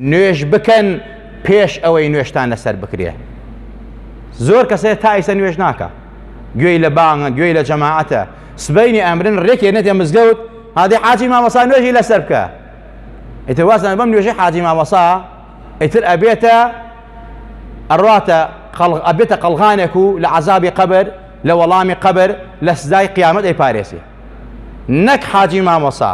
نوێژ بکەن پێش ئەوەی نوێژتان لەسەر بکرێ زۆر کەسێ تا ئیسە نوێژ ناکە گوێی لە بانگە گوێی لە جەماعەتە سبەینی ئەمرن ڕێکێ نەتێ مزگەوت هادی حاجی مامەسا نوێژی لەسەر بکە ئیتر وازان بەم نوێژی حاجی مامەسا ئیتر ئەبێتە ئەڕاتە ئەبێتە قەلغانێک و لە عذابی قەبەر لە وەڵامی قەبەر لە سزای قیامەت ئەی پارێزی نەک حاجی مامۆسا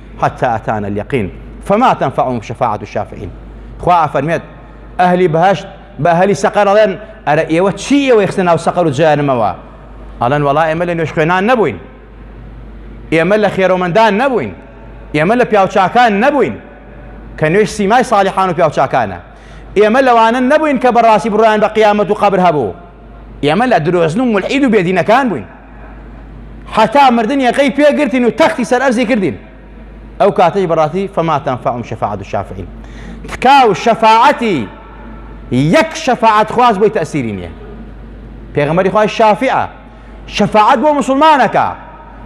حتى اتانا الیقین فما تنفعهم شفاعة الشافعین خوا ئەفەرمێت ئەهلی بەهشت بە ئەهلی سەقەر ئەڵێن ئەرە ئێوە چی ئێوە خستە ناو سەقەر و جەهەنمەوە ئەڵێن وەڵا ئێمە لە نوێژ خوێنان نەبووین ئێمە لە خێرۆمەندان نەبووین ئێمە لە پیاوچاکان نەبووین کە نوێژ سیمای ساڵحان و پیاوچاکانە ئێمە لەوانە نەبووین کە بەڕاستی بڕیان بە قیامەت و قەبر هەبوو ئێمە لە درۆزن و ملعید و بێدینەکان بووین حەتا مردن یەقەی پێگرتین و تەختی سەر ئەرزی کردین ئەو کاتەی بەڕاستی فەماتان فەعم شەفاعت و شافعین تکا و شەفاعەتی یەک شەفاعت خواز بۆی تەسیری نییە پێغەمەری خوای شافعە شەفاعت بۆ مسلمانەکە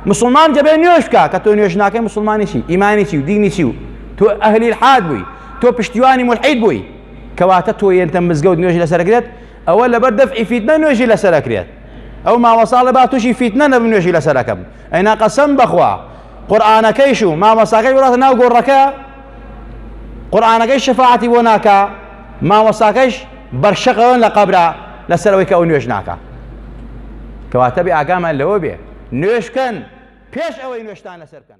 مسلمان دەبێ نوێش بکە کە تۆ نوێش ناکەی مسلمانێکی ئیمانێکی و دینیی و تۆ ئەهلی حاد بووی تۆ پشتیوانی ملحید بووی کەواتە تۆ یەنتە مزگەوت نوێژ لەسەرگرێت ئەوە لەبەر دەفعی فیتنە نوێژی لەسەر ئەکرێت ئەو مامۆساڵە با تووشی فیتنە نەبم نوێژی لەسەر ئەکەم ئەینا قەسەم بەخوا قورآانەکەیش و مامۆساکەی وڵاتە ناو گۆڕەکە قورآانەکەی شەفاعتی بۆ ناکە مامۆساکەش بەرشەقەوەن لە قەبرا لەسەرەوەی کە ئەو نوێژ ناکە کەواتە بێ ئاگامان لەوە بێ نوێشکەن پێش ئەوەی نوێشتان لەسەر بکەن